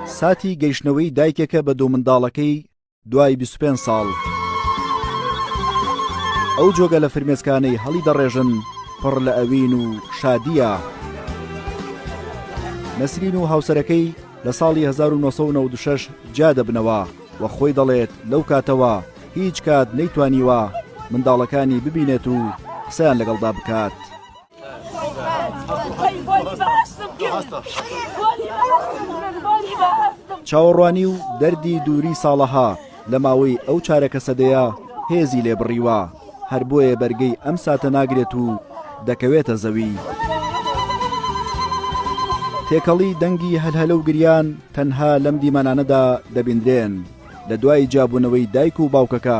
ساتی گەیشتنەوەی دایکێکە بە دوو منداڵەکەی دوای 25 ساڵ ئەو جۆگە لە فرمێسکانەی هەڵی دەڕێژن پڕ لە ئەوین و شادیە نەسرین و هاوسەرەکەی لە ساڵی 1996 جیا دەبنەوە و خۆی دەڵێت لەو کاتەوە هیچ کات نەیتوانیوە منداڵەکانی ببینێت و قسەیان لەگەڵدا بکات. چاوەڕوانی و دەردی دووری ساڵەها لە ماوەی ئەو چارەکە سەدەیە هێزی لێ بڕیوە هەر بۆیە بەرگەی ئەم ساتە ناگرێت و دەکەوێتە زەوی. تێکەڵی دەنگی هەلهەلە و گریان تەنها لەم دیمەنانەدا دەبیندرێن لە دوای جابوونەوەی دایک و باوکەکە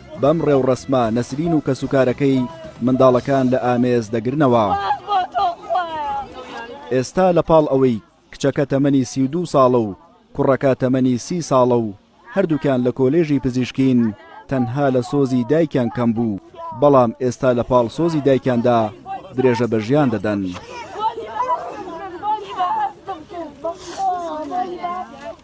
بەم ڕێوڕەسمە نەسرین و کەسوکارەکەی منداڵەکان لە ئامێز دەگرنەوە ئێستا لە پاڵ ئەوەی کچەکە تەمەنی سی دو ساڵە و کوڕەکە تەمەنی سی ساڵە و هەردووکیان لە کۆلێژی پزیشکین تەنها لە سۆزی دایکیان کەم بوو بەڵام ئێستا لە پاڵ سۆزی دایکیاندا درێژە بە ژیان دەدەن.